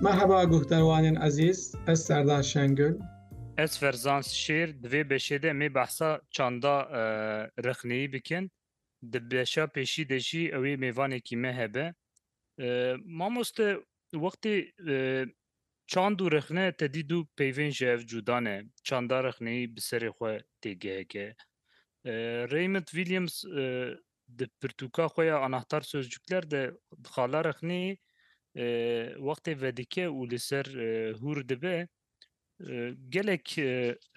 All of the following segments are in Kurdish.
Merhaba guhdarwanên ezîz, ez Serdar Şengül. Ez Ferzans Şêr di vê beşê de mê behsa çanda e, rexneyî bikin. Di beşa pêşî de jî ew ê mêvanekî me hebe. E, mamoste wextê e, çand û rexne te dîdû peyvên ji ev cuda ne. Çanda rexneyî bi serê xwe têgeheke. E, Raymond Williams e, di pirtûka xwe ya Anahtar Sözcükler de xala rexnê wextê vedike û li ser hûr dibe gelek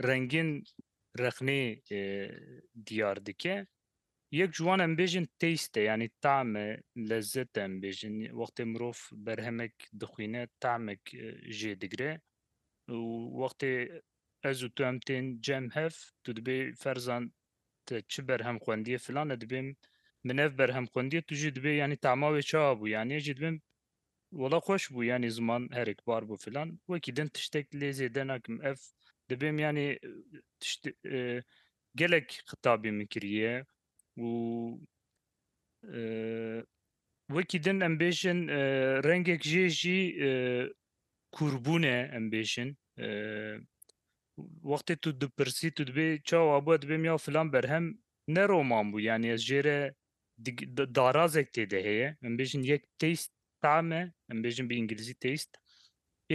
rengên rexnê diyar dike. Yek ji wan em bêjin taste yanî tam e, lezzet em bêjin. Wextê mirov berhemek dixwîne tamek jê digire û wextê ez û tu em tên cem hev tu dibê ferzan te çi berhem xwendiye filan e dibê min ev berhem xwendiye tu jî dibê yanî tema wê çi abû yanî jî dibê wala xweş bû yanî ziman herek bar bû filan wekî din tiştek lê zêde nakim ev dibê min yanî tişt gelek xitabê min kiriye û wekî din em bêjin rengek jê jî kûrbûne em bêjin Wextê tu dipirsî tu dibê çawa bû ez dibêm ya filan berhem ne roman bû yanî ez jê re darazek tê de heye em bêjin yek taste tame em bêjin bi îngilîzî taste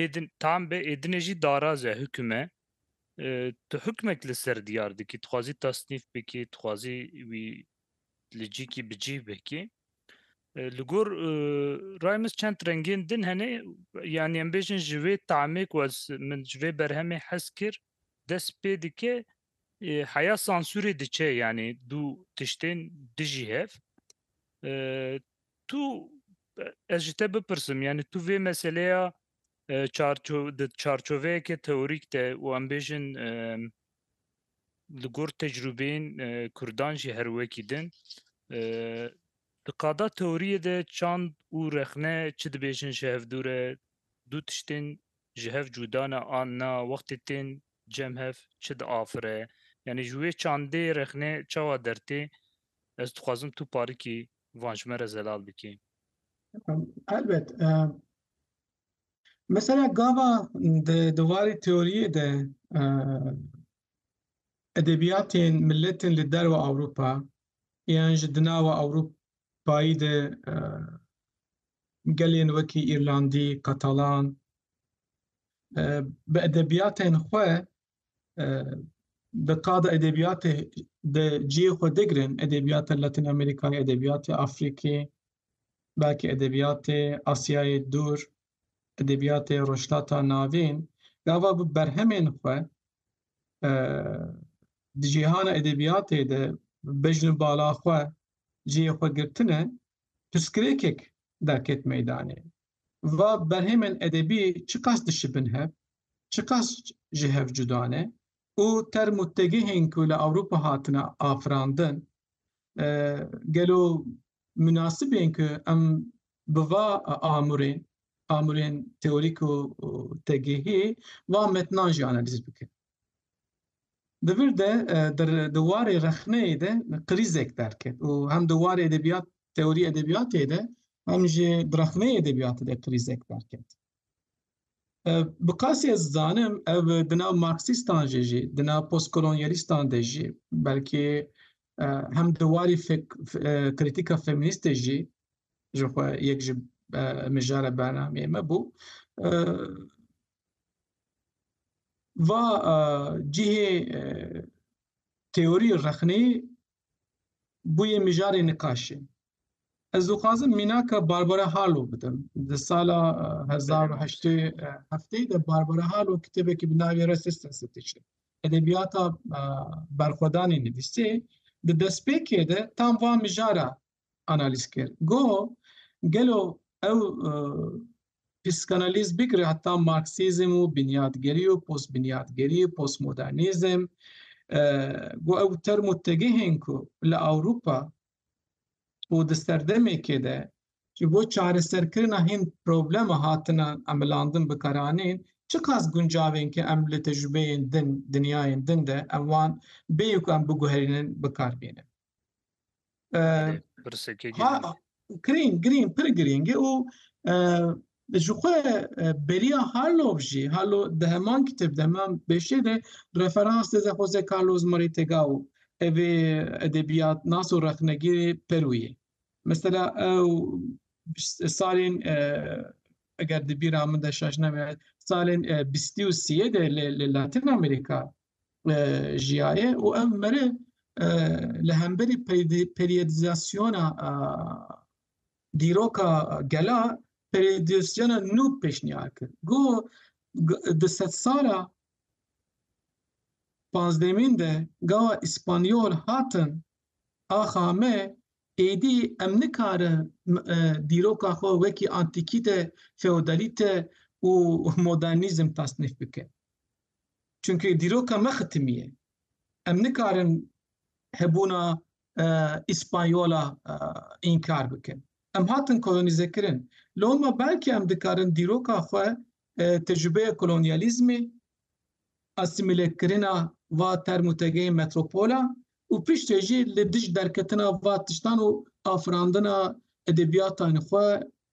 êdin tam be êdinê jî daraz e hukim e tu hukmek li ser diyar dikî dixwazî tasnîf bikî dixwazî wî li cîkî bi cîh vekê. Li gor rayê min çend rengên din hene yanî em bêjin ji vê tamê ku ez min ji vê berhemê hez kir dest pê dike heya sansûrê diçe yanî dû tiştên dijî hev tu ez ji te bipirsim yanî tu vê meseleya çarçoveyeke teorîk de û em bêjin li gor tecrûbeyên Kurdan jî her wekî din. Di qada teoriyê de çand û rexne çi dibêjin ji hev dûr e, du tiştên ji hev cuda ne an na, wextê tên cem hev çi diafire. Yanî ji wê çandê rexne çawa dertê? Ez dixwazim tu parikî van ji me re zelal bikî. Elbet. Mesela gava di warê teoriyê de edebiyatên milletên li derve Ewropa yan ji di nava Ewropayî de gelên wekî Îrlandî, Katalan bi edebiyatên xwe di qada edebiyatê de cihê xwe digirin edebiyata Latin Amerikayê, edebiyatê Afrikê, belkî edebiyatê Asyayê dûr, edebiyatê Rojhilata Navîn, gava bi berhemên xwe di cîhana edebiyatê de bejn û bala xwe cihê xwe girtine, pirsgirêkek derket meydanê. va berhêmên edebî çiqas dişibin hev, çiqas ji hev cuda ne û term û tegihên ku li Ewropa hatine afirandin gelo minasib ên ku em bi va amûrên, amûrên teorîk û tegihî va metnan jî analiz bikin. Di vir de di warê rexneyê de krîzek derket û hem di warê edebiyat teorî edebiyatê de hem jî di rexneyê edebiyatê de krîzek derket. Bi qasî ez dizanim ev di nav marksîstan jê jî di nav postkolonyalîstan de jî belkî hem di warî krîtîka feminîstê jî ji xwe yek ji mijara bernameyê me bû Va cihê teorî rexnê bûye mijarê niqaşê. Ez dixwazim mînaka Barbara Harlow bidim. Di sala hezar û heştê hefteyê de Barbara Harlow kitêbekî bi navê Resistance dişê. Edebiyata berxwedanê nivîsê. Di destpêkê de tam va mijara analîz kir. Goh gelo ew e, psîkanalîz bigire heta marksîzm û binyadgerî û postbinyadgerî û postmodernîzm e, goh ew term û tegihên ku li Ewropa û di serdemekê de ji bo çareserkirina hîn problema hatina emilandin bikaranîn çiqas guncavên ki em li tecrübeyên din dinyayên din de em wan bêyî ku em biguherînin bikar bînin. Grîng grîng pir grîng e û ji xwe beriya Harlov jî Harlov di heman kitêb de heman beşê de referans dide Jose Carlos Moritega û ev ê edebiyatnas û rexnegirê Perû yê. Mesela ew salên eger di bîra min de şaş nebe salên bîstî û sîyê de li Latin Amerîka jiyaye û ev meriv li hemberî periyodizasyona dîroka gela periyodizasyona nû pêşniyar kir. Goh di sedsala pazdehemîn de gawa Îspanyol hatin axa me êdî em nikarin dîroka xwe wekî antîkîte, feodalîte û modernîzm tasnîf bikin. Çimkî dîroka me xitimî ye. Em nikarin hebûna Îspanyola înkar bikin. Em hatin kolonîzekirin. Loma belkî em dikarin dîroka xwe tecrûbeya kolonyalîzmê, asîmîlekirina va term û tegeyên metropola û piştê jî li dij derketina va tiştan û afirandina edebiyatên xwe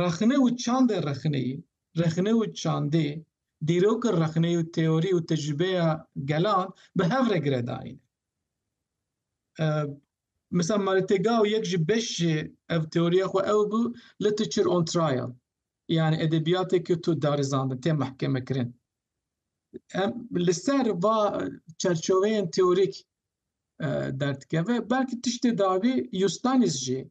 Rexne û çandê rexneyî, rexne û çandê, dîroka rexneyî û teorî û tecrîbeya gelan bi hev re giredayîne. Misal Maritêgau yek ji beş ji ev teoriya xwe ew bû, literature on trial, yanî edebiyatê ke tu darizandin, tê mehkemekirin. Em li ser va çerçoveyên teorîk derdikeve. Belkî tiştê davî Yustanis jî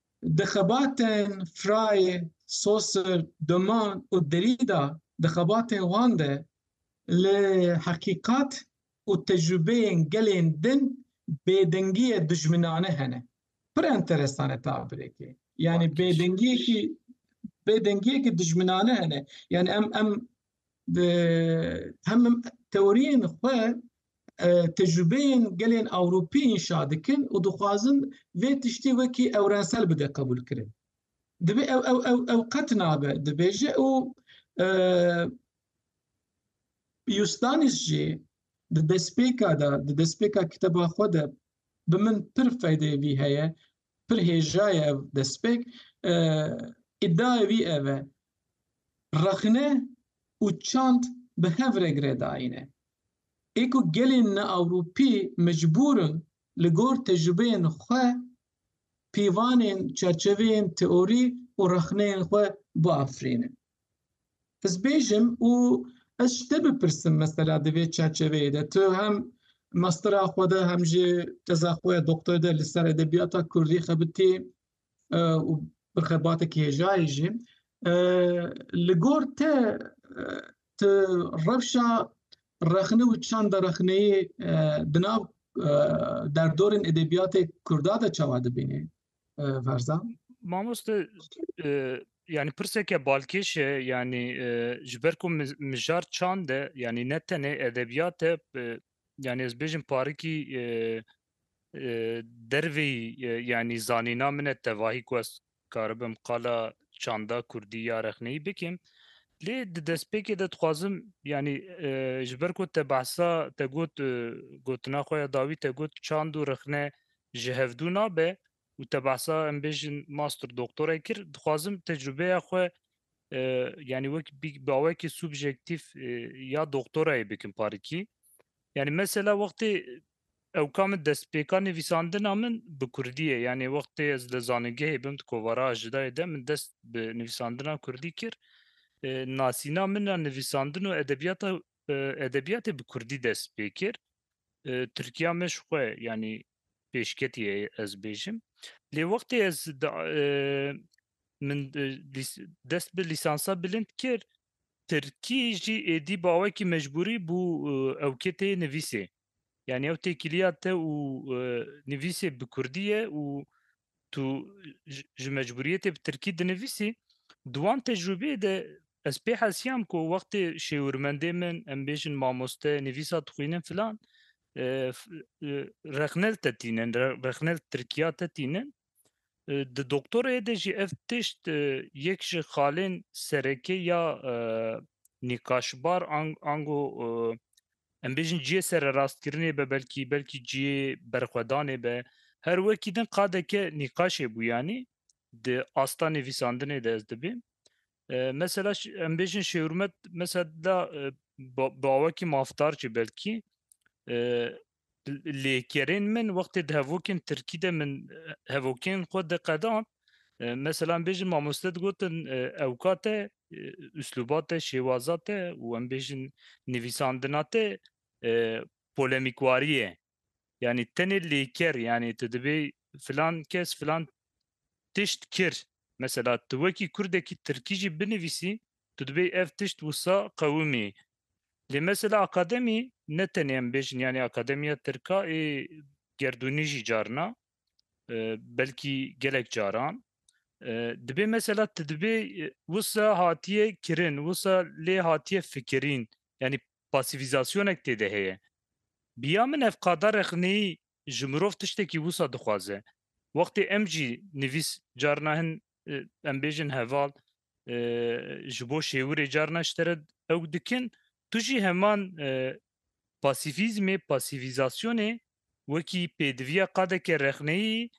Di xebatên Fraye, Saussure, Doman û Derrida, di xebatên wan de li heqîqat û tecrûbeyên gelên din bêdengiyê dijminane hene. Pir enteresan e tabirêkê. Yanî bêdengiyekî bêdengiyekî dijminane hene. Yanî em em Di hem teoriyên xwe tecrübeyên gelên Ewropî înşa dikin û dixwazin vê tiştê wekî ewrensel bide qebûlkirin. Divê ew ew ew ew qet nabe dibêje û Yustanis jî di destpêka de di destpêka kiteba xwe de bi min pir feydê vî heye pir hêjaye ev destpêk. Îdiaya wî ev e, rexne û çand bi hev re girêdayîne. Ê ku gelên neewropî mecbûr in li gor tecrûbeyên xwe pîvanên, çerçeveyên teorî û rexneyên xwe biafirînin. Ez bêjim û ez ji te bipirsim mesela di vê çerçeveyê de tu hem mastera xwe de hem jî teza xwe ya doktor de li ser edebiyata Kurdî xebitî e, û bi xebatekî hêjayê jî e, li gor te e, tu rewşa rexne û çanda rexneyê di nav derdorên edebiyatê Kurda de çawa dibînî? Ferzan? Mamoste yanî pirseke balkêş e yanî ji ber ku mijar çand e yanî ne tenê edebiyat e yanî ez bêjim parikî dervê yanî zanîna min e tevahî ku ez karibim qala çanda kurdî ya rexneyî bikim lê di destpêkê de dixwazim yanî ji ber ku te behsa te got gotina xwe ya dawî te got çand û rexne ji hevdû nabe û te behsa em bêjin master doktorê kir dixwazim tecrûbeya xwe yani wek bawekî subjektîf ya doktorayê bikim parikî yani mesela wextê ewka min destpêka nivîsandina min bi kurdî ye yani wextê ez li zanîngehê bim di kovara jidayê de min dest bi nivîsandina kurdî kir nasîna min a nivîsandin û edebiyata Edebiyatê bi kurdî dest pê kir. Tirkiya me ji xwe yanî pêşketî ye ez bêjim. Lê wextê ez min dest bi lîsansa bilind kir, tirkî jî êdî bawekî mecbûrî bû ewkê tê nivîsê. Yani ew têkiliya te û e, nivîsê bi kurdî ye û tu ji- ji mecburiyetê bi tirkî dinivîsî di wan tecrûbeyê de ez pê hesiyam ku wextê şêwirmendê min em bêjin mamoste nivîsa dixwînin filan e, f- e, rexnel te tînin re- rexnel tirkiya te tînin Di doktorayê de jî ev tişt yek ji xalên serekê ya nîqaşbar an ango em bêjin ciyê sererastkirinê be belkî belkî ciyê berxwedanê be her wekî din qadeke nîqaşê bû yanî di asta nivîsandinê de ez dibî mesela em bêjin şêwirmet mesela da bi awekî mafdar jî belkî Lê kerên min wextê di hevokên tirkî de min hevokên xwe diqedan meselan bêjin mamoste digotin ewka te üsluba te şêwaza te û em bêjin nivîsandina te polemîkwarî ye yanî tenê lêker yanî tu dibê filan kes filan tişt kir mesela tu wekî kurdekî tirkî jî binivîsî tu dibê ev tişt wisa qewimî Lê mesela akademî ne tenê em bêjin yanî akademiya tirka ê gerdûnî jî carina belkî gelek caran dibê mesela ti dibê wisa hatiye kirin wisa lê hatiye fikirîn yanî pasîvîzasyonek tê de heye. Biya min ev qada rexneyî ji mirov tiştekî wisa dixwaze. Wextê em jî nivîs carna hin em bêjin heval ji bo şêwirê carna ji te re ew dikin tu jî heman pasîfîzmê pasîfîzasyonê wekî pêdiviya qadeke rexneyî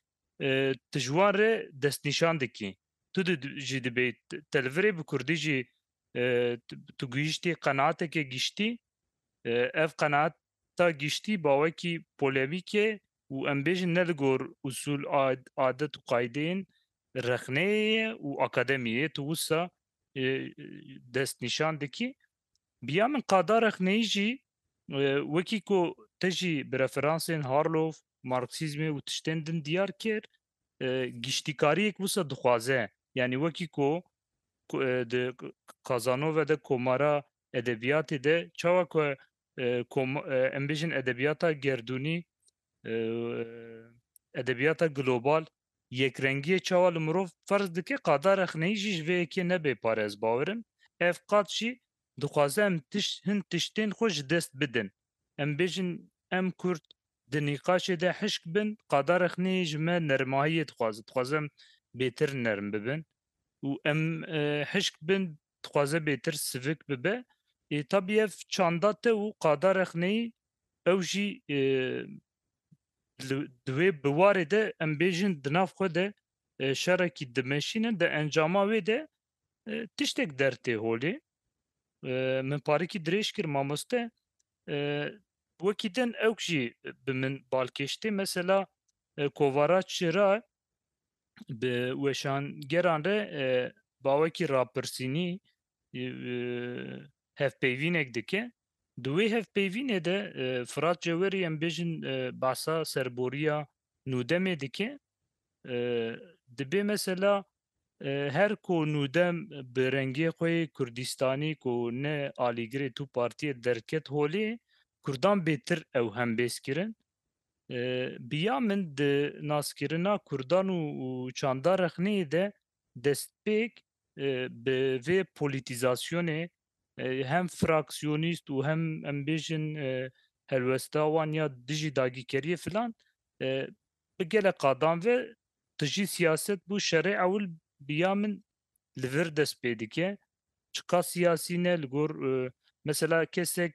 tu ji wan re destnîşan dikî. Tu jî dibê telvirê bi kurdî jî tu gihîştî qenatekê giştî ev qenaat ta giştî bawekî polemîk e û em bêjin ne li gor usûl, adet û qayideyên rexneyê ye û akademiyê ye. Tu wisa destnîşan dikî. Bi ya min qada rexneyî jî wekî ku te jî bi referansên Harlow, Marksîzmê û tiştên din diyar kir giştîkariyek wisa dixwaze. Yanî wekî ku di Kazanove de komara edebiyatê de çawa ku em bêjin edebiyata gerdûnî edebiyata global yekrengiyê çawa li mirov ferz dike qada rexneyî jî ji vê yekê nebê pare ez bawer im ev qad jî dixwaze em tişt hin tiştên xwe ji dest bidin em bêjin em kurd di nîqaşê de hişk bin qada rexneyê ji me nermahiyê dixwaze dixwazem bêtir nerm bibin û em hişk bin dixwaze bêtir sivik bibe. Ê tabî ev çanda te û qada rexneyî ew jî di wê biwarê de em bêjin di nav xwe de şerekî dimeşînin di encama wê de tiştek dertê holê. Min parikî dirêj kir mamoste wekî din ewk jî bi min balkêş tê mesela kovara çira Bi weşangeran re bawekî rapirsînî hevpeyvînek dike. Di wê hevpeyvînê de Firat Cewerî em bêjin behsa serboriya Nûdemê dike. Dibê mesela her ku Nûdem bi rengê xwe yê Kurdîstanî ku ne alîgirê tu partiyê derket holê, Kurdan bêtir ew hembêz kirin. Bi ya min di naskirina Kurdan û çanda rexneyê de destpêk bi vê polîtîzasyonê hem fraksiyonîst û hem em bêjin helwesta wan ya dijî dagîkeriyê filan bi gelek qadan ve dijî siyaset bû şerê ewil bi ya min li vir dest pê dike. Çiqas siyasî ne li gor mesela kesek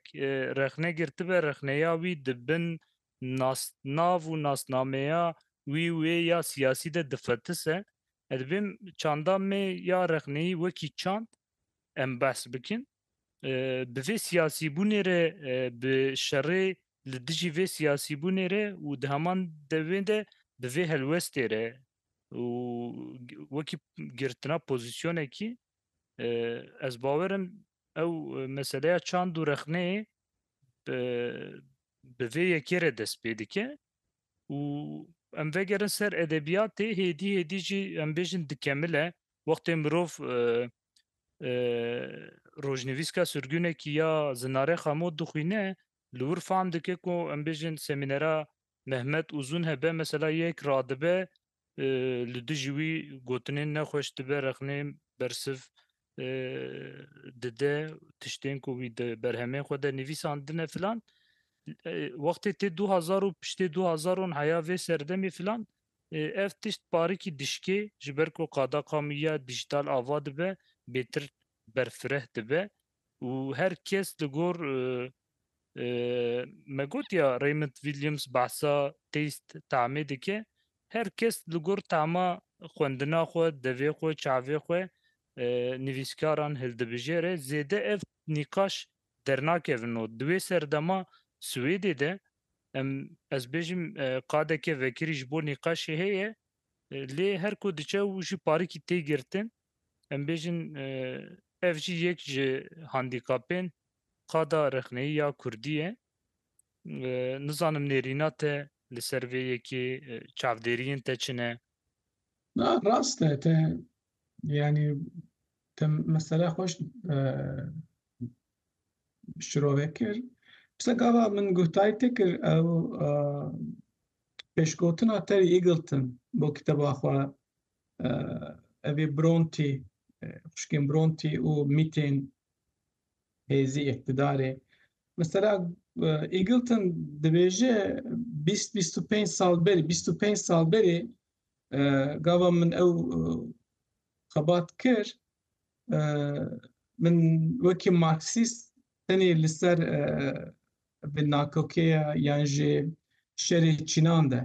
rexne girtibe rexneya wî di bin nasnav û nasnameya wî û wê ya siyasî de difetise. Ez dibêjim çanda me ya rexneyî wekî çand em behs bikin. Bi vê siyasîbûnê re bi şerê li dijî vê siyasîbûnê re û di heman devê de bi vê helwestê re û wekî girtina pozîsyonekî ez bawer im ew meseleya çand û rexneyê bi vê yekê re dest pê dike û em vegerin ser edebiyatê hêdî hêdî jî em bêjin dikemile wextê mirov rojnivîska surgunekî ya Zinare Xamo dixwîne li wir fam dike ku em bêjin semînera Mehmet Uzun hebe mesela yek radibe li dijî wî gotinên nexweş dibe rexnê bersiv dide tiştên ku wî di berhemên xwe de nivîsandine filan wextê tê du hezar û piştê du hezaron heya vê serdemê filan ev tişt parikî dişkê ji ber ku qada qamiya dijîtal ava dibe bêtir berfireh dibe û her kes li gor Me gotiya Raymond Williams behsa têst tamê dike. Her kes li gor tama xwendina xwe, devê xwe, çavê xwe nivîskaran hildibijêre. Zêde ev nîqaş dernakevin û di wê serdema Swêdê de em ez bêjim qadeke vekirî ji bo nîqaşê heye lê her ku diçe û jî parikî tê girtin em bêjin ev jî yek ji handîkapên Qada rexneyî ya kurdî ye. Nizanim nêrîna te li ser vê yekê çavdêriyên te çi ne? Na rast e te yanî te mesela xwe şirove kir. Pisa gava min guhtarî te kir ew pêşgotina Terry Eagleton bo kiteba xwe evê Bronte xwişkên Bronte û mîtên hêzî îqtîdarê. Mesela Eagleton dibêje bîst bîst û pênc sal berî bîst û pênc sal berî gava min ew xebat kir min wekî marksîst tenê li ser bi nakokê yan jî şerê çînan de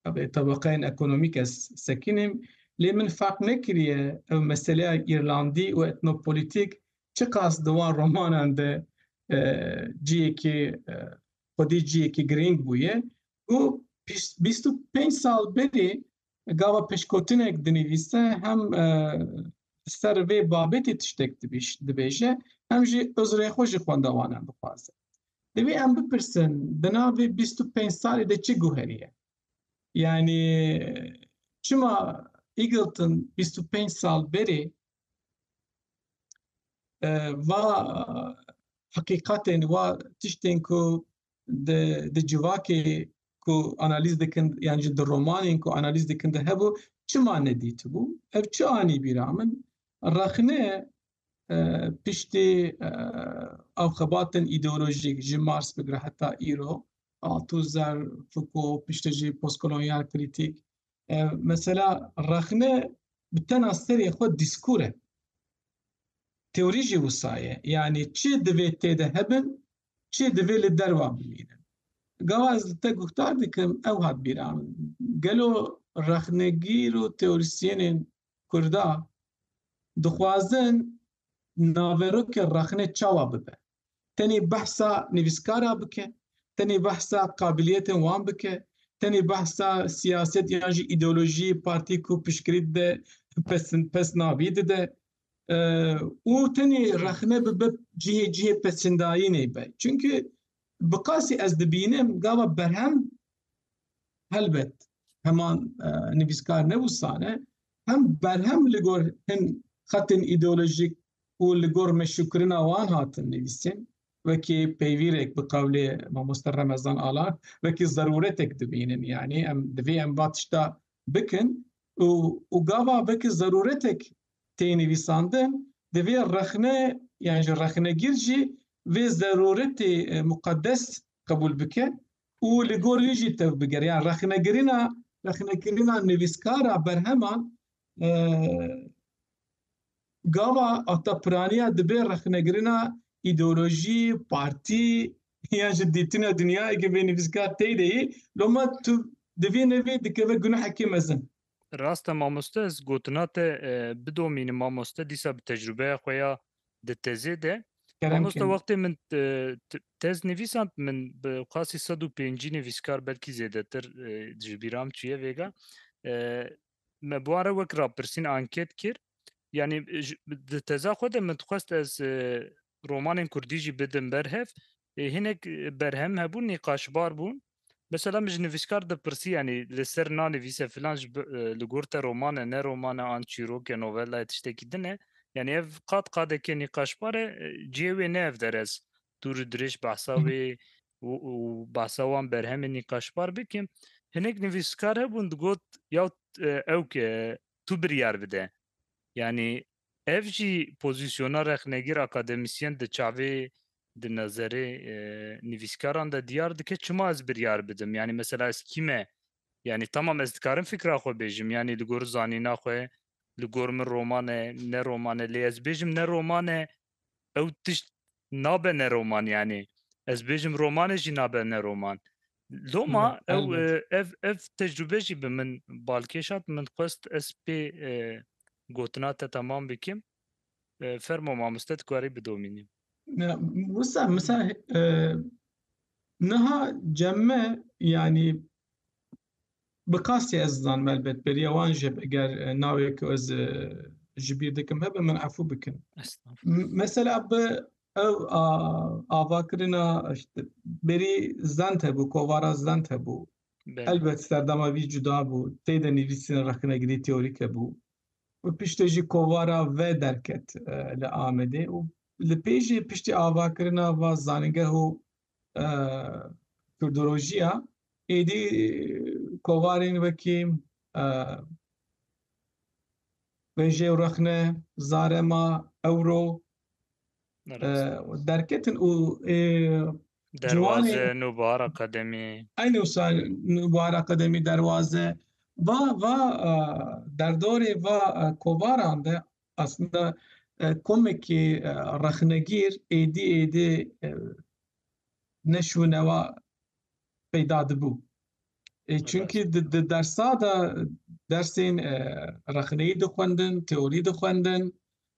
Tabi tebaqeyên ekonomîk ez sekînîm lê min ferq nekiriye ew meseleya Îrlandî û etnopolitîk çiqas di wan romanan de ciyekî xwedî ciyekî girîng bûye û bîst û pênc sal berî gava pişkotinek dinivîse hem ser vê babetê tiştek dibêje hem jî uzrê xwe ji xwendewanan bixwaze. Divê em bipirsin di navê bîst û pênc salê de çi guherî ye? Yanî çima Eagleton bîst û pênc sal berê e, va heqîqetên wa tiştên ku di di civakê ku analiz dikin yan jî di romanên ku analiz dikin de hebû çima nedîtibû? Ev çi anî bîra min? Rexne Piştî ew xebatên îdeolojîk ji Mars bigire heta îro, Althusser, Foucault, piştî jî postkolonyal krîtîk, mesela rexne bi tena serê xwe dîskur e. Teorî jî wisa ye. Yanî çi divê tê de hebin, çi divê li derwa bimînin. Gava ez li te guhdar dikim, ew hat bîra min. Gelo rexnegîr û teorisyenên Kurda dixwazin naverokê rexne çawa bibe? Tenê behsa nivîskara bike? Tenê behsa qabiliyetên wan bike? Tenê behsa siyaset yan jî îdeolojî partî ku piştgirî dide pesnavî dide û tenê rexne bibe cihê cihê pesindayînê be. Çimkî bi qasî ez dibînim gava berhem Helbet heman e, nivîskar ne wisa ne hem berhem li gor hin xetên îdeolojîk û li gor meşûkirina wan hatin nivîsên wekî peyvîrek bi qewlê mamoste Remezan Alan wekî zeruretek dibînin yanî em divê em va tişta bikin û û gava vekî zeruretek tê nivîsandin divê rexne yan ji rexnegîr jî vê zeruretê e, muqeddes qebûl bike û li gor wî jî tev bigere yan rexnegirina rexnekirina nivîskara berheman gava ata piraniya dibê rexnegirina îdeolojî partî yan ji dîtina dinyayeke vê nivîskar tey deyî loma tu divî nevî dikeve gunehekê mezin Rast e mamoste ez gotina te bidomînim mamoste dîsa bi tecrûbeya xwe ya di tezê de mamoste wextê min tez nivîsand min bi qasî sed û pêncî nivîskar belkî zêdetir ji bîram çûye vêga me bi wan re wek rapirsîn anket kir yanî di teza xwe de min dixwest ez romanên kurdî jî bidin ber hev ê hinek berhem hebûn nîqaşbar bûn mesela min ji nivîskar dipirsî yanî li ser nanivîse filan ji li gor te roman e ne roman e an çîrok e novella ye tiştekî din e yanî ev qad qadekê nîqaşbar e cihê wê ne ev derez dûr û dirêj behsa wê û behsa wan berhemê nîqaşbar bikim hinek nivîskar hebûn digot ya ew ke tu biryar bide yanî Ev jî pozîsyona rexnegîr akademisyen di çavê di nezerê nivîskaran de diyar dike çima ez biryar bidim yanî mesela ez kî me yanî tamam ez dikarim fikra xwe bêjim yanî li gor zanîna xwe li gor min romane ne romane lê ez bêjim ne romane ew tişt nabe ne roman yanî ez bêjim romane jî nabe ne roman. Loma ew ev ev tecrübe jî bi min balkêşat min xwest ez pê gotina te tamam bikim. Fermo mamoste tu karî bidomînî. Wisa misal niha cem me yanî Bi qasî ez dizanim elbet beriya wan jî hebe eger navê ku ez ji bîr dikim hebe min efû bikin. Mesela bi ew a avakirina işte berî zend hebû kovara zend hebû. Elbet serdama vî cuda bû. Tê de nivîsîna rexnegirî teorîk hebû. Û piştê jî kovara ve derket li Amedê û li pê jî piştî avakirina va zanîngeh û Kurdolojiya êdî kovarên wekî Vejê û Rexne, Zarema, Ewro derketin û Derwaze, Nûbahar Akademî. Eynî wisa Nûbahar Akademî, Derwaze va va derdorê va kovaran de Aslında komekî rexnegîr êdî êdî neş û newa peyda dibû. Çünkî di dersa de dersên rexneyî dixwendin, teorî dixwendin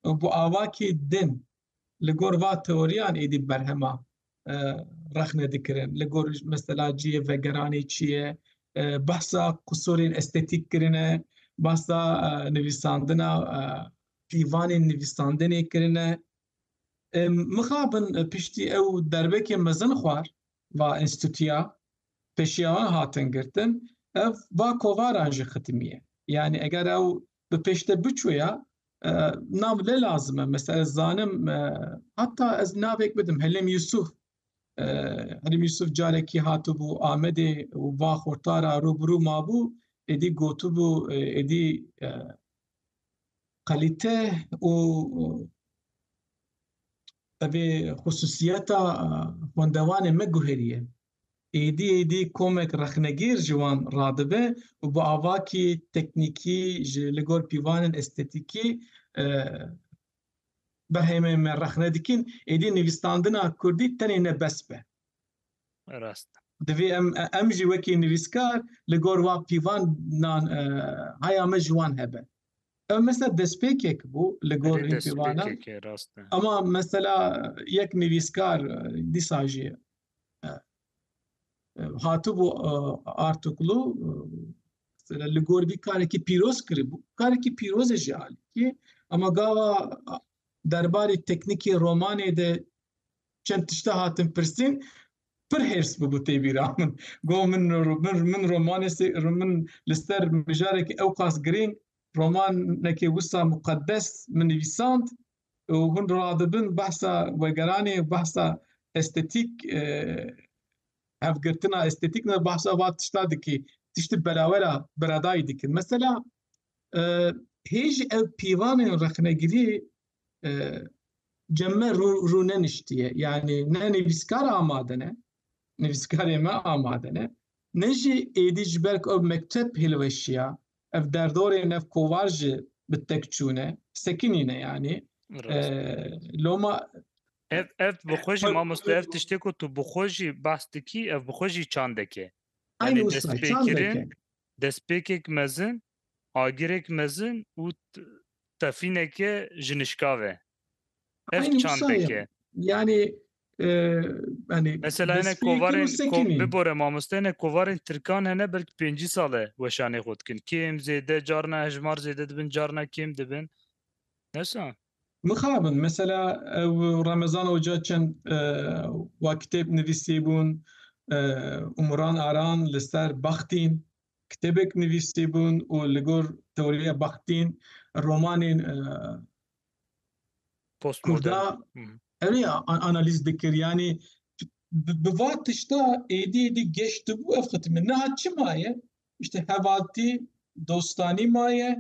û bi avakî din Li gor va teoriyan êdî berhema rexne dikirin. Li gor mesela ciyê vegeranê çi ye, behsa qusûrên estetîk kirine, behsa nivîsandina pîvanên nivîsandinê kirine. Mixabin piştî ew derbekê mezin xwar va înstîtûya pêşiya wan hatin girtin, ev va kovaran jî xitimiye. Yanî eger ew bi pêşde biçûya nav ne lazim e mesela ez zanim heta ez navek bidim Helêm Yusuf Helêm Yusuf carekî hatibû Amedê û va xurtara rûbirû mabû êdî gotibû êdî qelîte û evê xusûsiyeta xwendevanê me guherîye Êdî êdî komek rexnegîr ji wan radibe û bi avakî teknîkî ji li gor pîvanên estetîkî berhemên me rexne dikîn, êdî nivîsdandina kurdî tenê ne bes be. Rast. Divê em em jî wekî nivîskar li gor wa pîvanan haya me ji wan hebe. Ev mesela destpêkek bû li gor vîn pîvanan. Ama mesela yek nivîskar dîsa jî hatibû Artuklu li gor vî karekî pîroz kiribû. Karekî pîrozê jî alîkî ama gava derbarê teknîkê romanê de çend tişte hatin pirsîn pir hêrs bûbû tê bîra min. Got min min romanê min li ser mijarekî ewqas girîng romanekî wisa muqedes min nivîsand û hûn radibin behsa vegeranê û behsa estetîk hevgirtina estetîk ne behsa va tişta dikî tiştî berawera beradayî dikin mesela hê jî ev pîvanên rexnegirî cem me rû neniştiye yanî ne nivîskar amade ne nivîskarê me amade ne ne jî êdî ji ber ku ew mekteb hilweşiya Ev derdorê nev kovar jî bi tek çûne, sekinîne yanî. Loma Ev ev bi xwe jî mamoste ev tiştê ku tu bi xwe jî behs dikî ev bi xwe jî çandek e. Aynî wisa çandek e. Destpêkirin, destpêkek mezin, agirek mezin û tefîneke jinişkav e. Ev çandek e. Yanî Enê Mesela ene kovarên bibore mamoste ene kovarên Tirkan hene belki pêncî sale weşanê xwe dikin. Kêm zêde carna hejmar zêde dibin carna kêm dibin. Nesa? Mixabin mesela ew Remezan Oca çend wa kitêb nivîsîbûn Umuran Aran li ser Baxtîn kitêbek nivîsîbûn û li gor tewriya Baxtîn romanên Kurda Ev ê analîz dikir yanî bi va tişta êdî êdî geştibû ev xitîme. Niha çi maye? İşte hevaltî, dostanî maye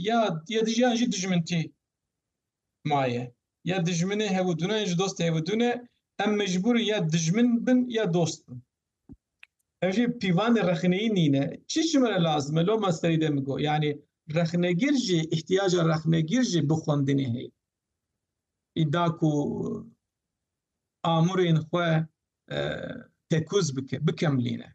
ya ya dijiyan jî dijmintî maye. Ya dijminê hewidûne ji dostê hewidûne em mecbûrin ya dijmin bin ya dost bin. Ev jî pîvanê rexneyî nîne. Çi ji min re lazim e? Loma serî de min got. Yanî rexnegir jî îhtiyaca rexnegir jî bi xwendinê heye. Wî da ku amûrên xwe tekûz bike, bikemlîne.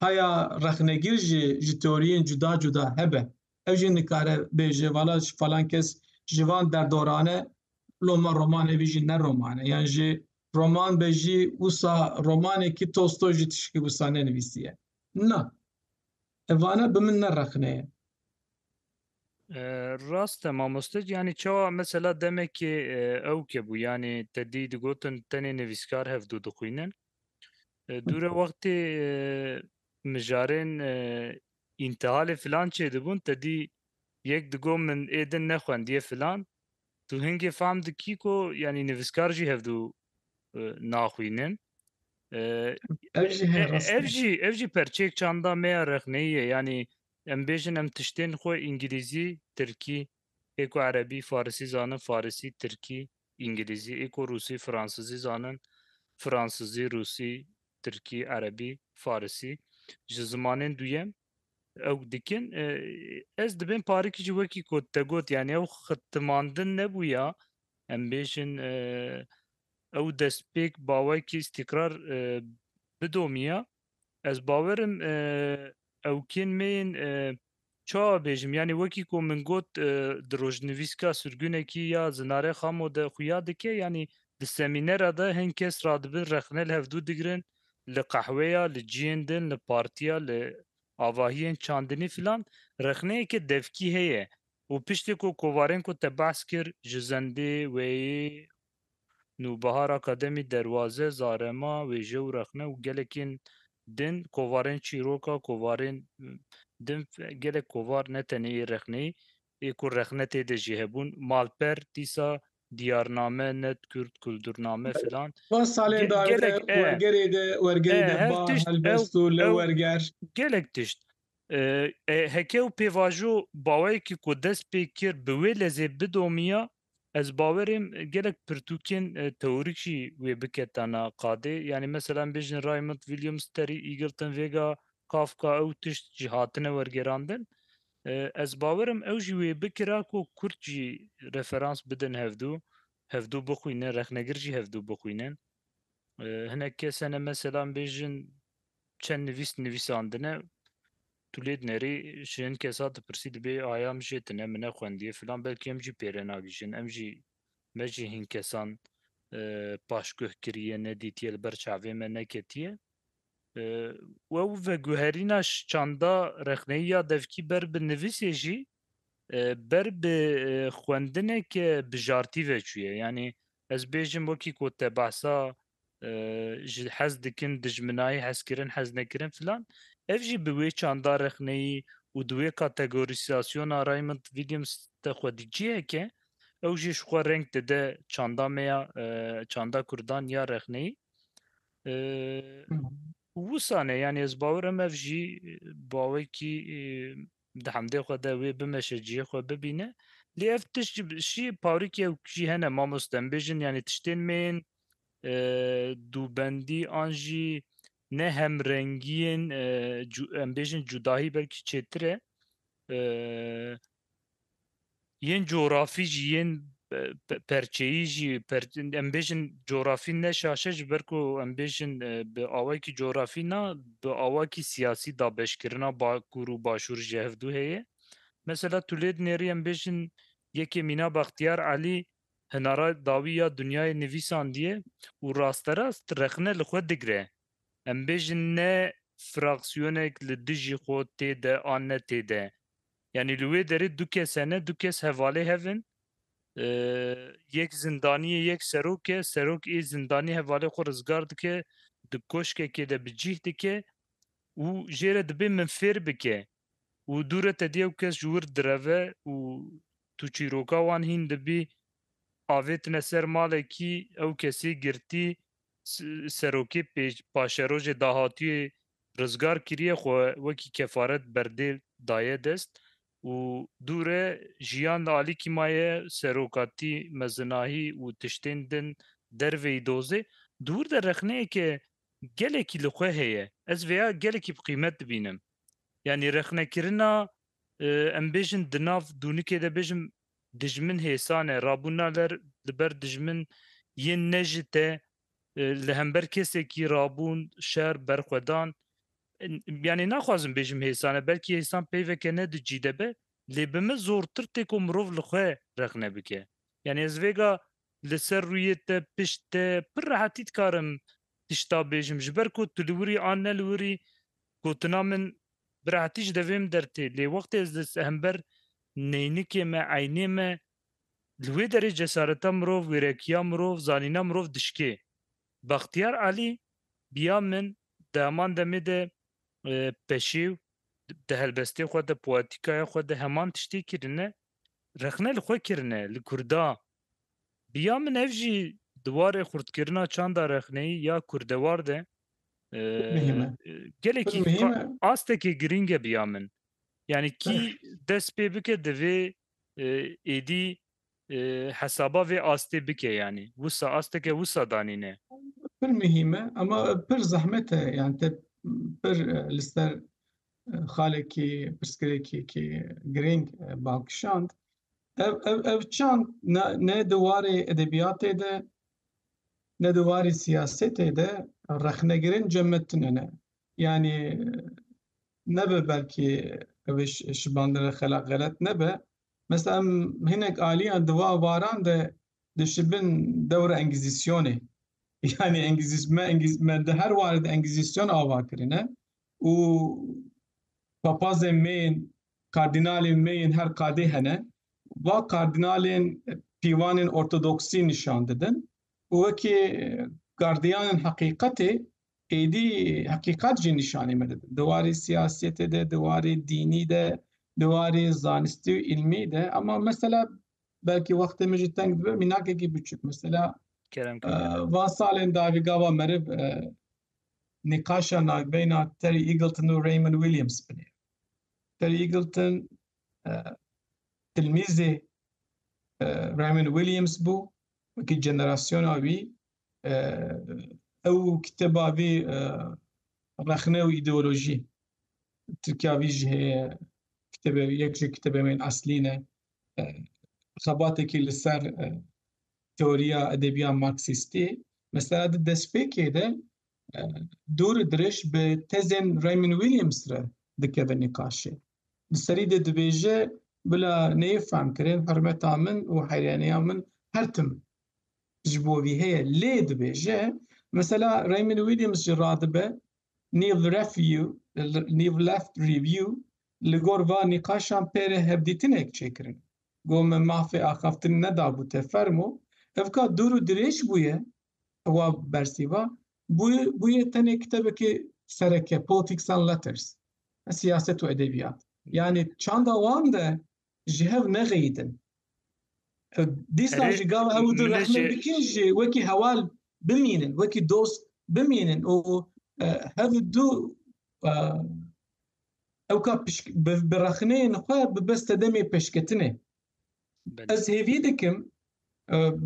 Haya rexnegir jî ji teoriyên cuda cuda hebe. Ew jî nikare bêje vala ji falan kes ji van derdorane lo me roman evî jî ne roman e yan jî roman be jî wisa romanekî Tolstoy jî tişkî wisa nenivîsiye. Na. Ev vane bi min ne rexne ye. Rast e mamoste yanî çawa mesela demekê ewke bû yanî te dî digotin tenê nivîskar hevdû dixwînin. Dûre wextê mijarên întihalê filan çêdibûn te dî yek digot min ê din nexwendiye filan tu hingê fam dikî ku yanî nivîskar jî hevdû naxwînin. Ev jî ev jî perçeyek çanda me ya rexneyî ye yanî Em bêjin em tiştên xwe îngilîzî, tirkî, ê ku erebî, farisî zanin, farisî, tirkî, îngilîzî, ê ku rûsî, fransizî zanin, fransizî, rûsî, tirkî, erebî, farisî ji zimanên duyem ew dikin. Ez dibên parikî jî wekî ku te got yanî ew xitimandin nebûya em bêjin ew destpêk bawekî îstîkrar bidomîya. Ez bawer im ew kên me yên çawa bêjim yanî wekî ku min got di rojnivîska sirgunekî ya Zinare Xamo de xuya dike yanî di semînera de hin kes radibin rexne li hevdû digirin li qehweya li ciyên din li partiya li avahiyên çandinî filan rexneyeke devkî heye û piştê ku kovarên ku te behs kir ji zendê weyê Nûbihar Akademî derwaze, zarema, wêje û rexne û gelekîn din kovarên çîroka kovarên din gelek kovar ne tenê ê rexneyî ê ku rexne tê de jî hebûn malper dîsa diyarname net kurd kuldurname filan Van salên dawî de wergerê de wergerê de ba helbest û li werger. Gelek tişt heke û pêvajo baweyekî ku dest pê kir bi wê lezê bidomîya Ez bawerêm gelek pirtûkên teorîk jî wê biketana qadê. Yanî mesela em bêjin Raymond, Williams, Terry Eagleton, Vega, Kafka ew tişt jî hatine wergerandin. Ez bawer im ew jî wê bikira ku Kurd jî referans bidin hevdû, hevdû bixwînin, rexnegir jî hevdû bixwînin. Hinek kes hene mesela em bêjin Çend nivîs nivîsandine tu lê dinerî ji hin kesa dipirsî dibê aya min jê tune min nexwendiye filan belkî em jî pêre nagihîjin em jî me jî hin kesan e, paşguh kiriye nedîtiye li ber çavê me neketiye e, we û veguherîna çanda rexneyiya devkî ber bi nivîsê jî e, ber bi e, xwendineke bijartî veçûye yanî ez bêjim wekî ku te behsa ji hez dikin dijminayî hezkirin hez nekirin filan ev jî bi wê çanda rexneyî û di wê kategorîsasyona Raymond Williams de xwedî ciheke ew jî ji xwe reng dide çanda me ya çanda kurdan ya rexneyî wisane yanî ez bawerim ev jî bawekî di hemdê xwe de wê bimeşe cihê xwe bibîne lê ev tişt jî parikê ew jî hene mamos dembêjin yanî tiştên mêyên dûbendî an jî ne hemrengiyên em bêjin cudahî belkî çêtir e yên coğrafî jî yên perçeyî jî em bêjin coğrafî ne şaşe ji ber ku em bêjin bi awayekî coğrafî na bi awakî siyasî da beşkirina bakur û başûr ji hevdû heye. Mesela tu lê dinêrî em bêjin yekê Mîna Baxtiyar Elî hinara dawî ya dinyayê nivîsandiye û rasterast rexne li xwe digre. Em bêjin ne fraksiyonek li dijî xwe tê de an ne tê de. Yanî li wê derê du kes hene, du kes hevalê hev in. Yek zindaniye, yek serok e. Serok ê zindanî hevalê xwe rizgar dike, di koşkekê de bi cîh dike û jê re dibê min fêr bike. û dû re te dîyew kes ji wir direve û tu çîroka wan hîn dibî, avêtine ser malekî, ew kesê girtî, serokê paşerojê dahatûyê rizgar kirîye xwe wekî kefaret berdê daye dest û dû re jiyan li alîkî ma ye, serokatî, mezinahî û tiştên din derveyî dozê. Di wir de rexneyeke Gelekî li xwe heye. Ez vêya gelekî bi qîmet dibînim. Yanî rexnekirina em bêjin di nav dûnikê de bêjim dijmin hêsan e. Rabûna ler li ber dijmin yên ne ji te li hember kesekî rabûn, şer, berxwedan. Yanî naxwazim bêjim hêsan e. Belkî hêsan peyveke ne di cî de be. Lê bi min zortir têko mirov li xwe rexne bike. Yanî ez vêga Li ser rûyê te, pişt te, pir rehetî dikarim tişta bêjim. Ji ber ku tu li wir î an ne li wir î, gotina min bi rehetî ji devê min dertê. Lê wextê ez li hember neynikê me, eynê me, li wê derê cesareta mirov, wêrekiya mirov, zanîna mirov dişkê. Baxtiyar Alî, biya min, di heman demê de peşêw, di helbestê xwe de, poetikaya xwe de heman tiştê kirine. rexne li xwe kirine li Kurda bi ya min ev jî di warê xurtkirina çanda rexneyî ya kurdewar de gelekî astekê girîng e bi ya min yanî kî dest pê bike divê êdî hesaba vê astê bike yanî wisa asteke wisa danîne pir mihîme ama pir zehmet e yan te pir li ser xalekî pirsgirêkekî girîng bal kişand. Ev ev ev çand ne di warê edebiyatê de ne di warê siyasetê de rexnegirên cemmetinê ne. Yani nebe belkî ev şibandine xelaq xelet nebe. Mesela em hinek aliyan di va varan de dişibin dewra engizisyonê. Yani engiziz me engiz me di her warê de engizisyon ava kirine. û papazên me yên, kardînalên me yên her qadê hene. Va kardînalên pîvanên ortodoksî nîşan didin û wekî gardiyanên heqîqetê êdî heqîqet jî nîşanî me didin. Di warê siyasîyetê de, di warê dînî de, di warê zanistî û îlmî de ama mesela belkî wextê min jî teng dibe mînakekî biçûk mesela Kerem Kî. Van salên dawî gava meriv nîqaşa navbeyna Terry Eagleton û Raymond Williams binê. Terry Eagleton tilmîzê Raymond Williams bû wekî jenerasyona wî ew kitêba vî rexne û îdeolojî Tirkiya vî jî heye kitêbe yek ji kitêbemên eslî ne xebatekî li ser teoriya edebiya Marksistî, mesela di destpêkê de dûr dirêj bi tezên Raymond Williams re dikeve nîqaşê. Di serî de dibêje bila neyê fehmkirin hurmeta min û heyraniya min her tim ji bo vî heye lê dibêje mesela Raymond Williams ji radibe New Left Review li gor van nîqaşan pêrê hevdîtinek çêkirin. Got min mafê axaftin nedabû te fermo, ev ka dûr û dirêj bûye, ewa bersîva, bûye tenê kitebekê sereke, Politics and Letters, siyaset û edebiyat. Yanî çanda wan de ji hev nexeyîtin. Ew dîsa jî gava ew di rexmin bikin jî wekî hewal bimînin, wekî dost bimînin û hev du ew ka bi rexneyên xwe bi bes te demê pêşketinê. Ez hêvî dikim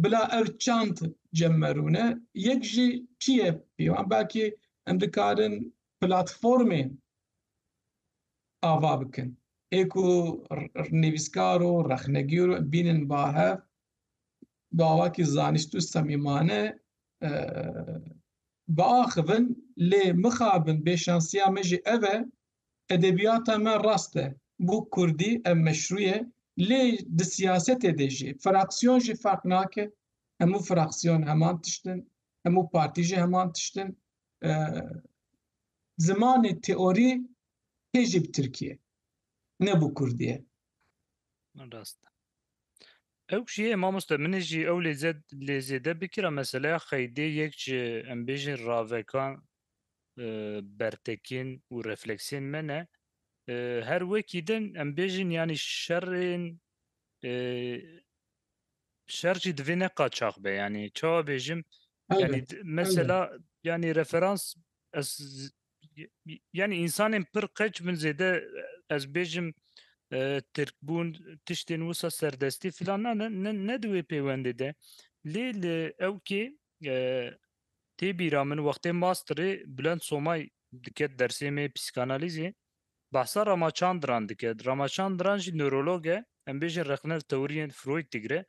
bila ev çand cem merûne yek jî çiye pêwan belkî em dikarin platformên ava bikin. Ê ku nivîskar û rexnegîr bînin ba hev, bi awakî zanist û semîmane biaxivin lê mixabin bêşansiya me jî ev e, edebiyata me rast e, bo kurdî ev meşrû ye lê di siyasetê de jî fraksiyon jî ferq nake, hemû fraksiyon heman tişt in, hemû partî jî heman tişt in. Zimanê teorî Hê jî bi Tirkî ye. Ne bi Kurdî ye. Rast e. Ew jî ye mamoste min ê jî ew lêze lêzêde bikira meseleya xeydê yek ji em bêjin ravekan e, bertekîn û refleksiyên me ne. E, Her wekî din em bêjin yanî şerên e, şer jî divê ne qaçax be yanî çawa bêjim Elbet, yanî d- mesela yanî referans ez yani insanên pir qeç min zêde ez bêjim Tirkbûn tiştên wisa serdestî filan na ne di wê pêwendê de lê li ewkê tê bîra min wextê masterê Bulend Somay diket dersê me psîkanalîzê behsa Ramachandran diket Ramachandran jî newrolog e em bêjin rexne li tewiriyên Freud digire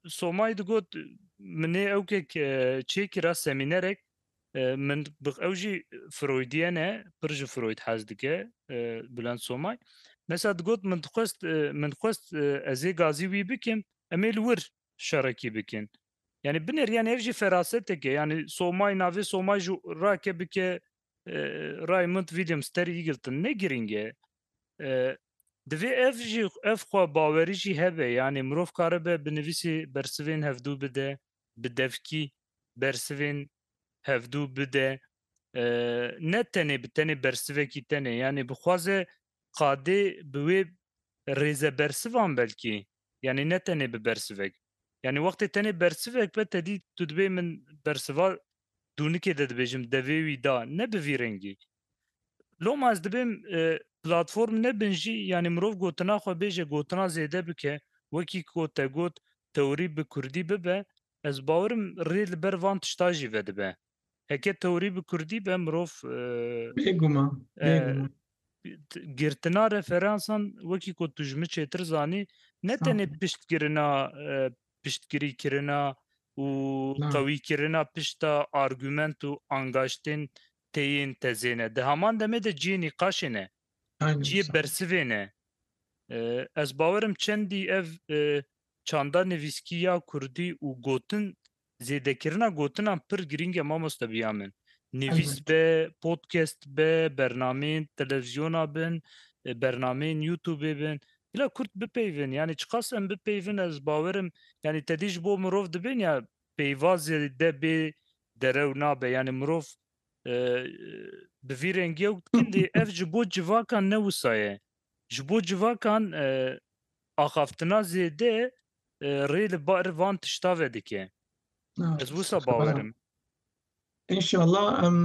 Somay digot, Min nê ewkek çêkira semînerek, min ew jî Freudyen e, pir ji Freud hez dike Bulent Somay. Mesa digot, Min dixwest min xwest ez ê gazî wî bikim, em ê li wir şerekî bikin. Yanî binêr yanî ev jî ferasetek e. Yanî Somay navê Somay jî rake bike Raymond Williams Terry Eagleton ne girîng e. Divê ev jî ev xwe bawerî jî hebe yanî mirov karibe bi nivîsî bersivên hevdû bide, bi devkî bersivên hevdû bide ne tenê bi tenê bersivekî tenê yanî bixwaze qadê bi wê rêzebersivan belkî Yanî ne tenê bi bersivek. Yanî wextê tenê bersivek be tedî tu dibê min bersiva dûnikê de dibêjim devê wî da ne bi vî rengî. Loma ez dibêm platform nebin jî yanî mirov gotina xwe bêje gotina zêde bike wekî ku te got tewrî bi kurdî bibe ez bawerim rê li ber van tişta jî vedibe. Heke tewrî bi kurdî be mirov Bêguman, bêguman. girtina referansan wekî ku tu ji min çêtir zanî ne tenê piştgirina piştgirîkirina û qewîkirina pişta argument û angaştên têyên tezê ne. Di heman demê de cihê nîqaşê ne. Cihê bersivê ne. Ez bawerim çendî ev çanda nivîskî ya kurdî û gotin Zêdekirina gotinan pir girîng e mamoste biya min. Nivîs Elbet. be, podcast be, bernameyên televîzyona bin, e, bernameyên YouTubeê bin. Bila Kurd bipeyvin, yanî çiqas em bipeyvin ez bawer im, yanî tedî ji bo mirov dibên ya peyva zêde bê derew nabe. Yanî mirov, e, e, bi vî rengî ew dikin dê ev ji bo civakan ne wisa ye. Ji bo civakan axaftina zêde rê li bar van tişta ve dike. Ez wisa bawer im. Înşallah em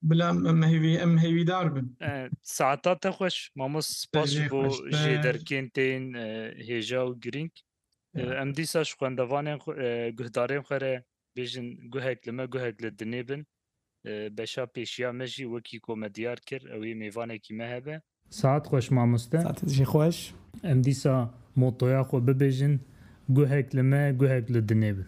bila em hêvî em hêvîdar bin. Saeta te xweş mamos spas ji bo jê derkên te yên hêja û girîng. Em dîsa ji xwendevanên xwe guhdarên xwe re bêjin guhek li me guhek li dinê bin. Beşa pêşiya me jî wekî ku me diyar kir ew ê mêvanekî me hebe. Saet xweş mamoste. Saetê te jî xweş. Em dîsa motoya xwe bibêjin, Guhek li me guhek li dinê bin.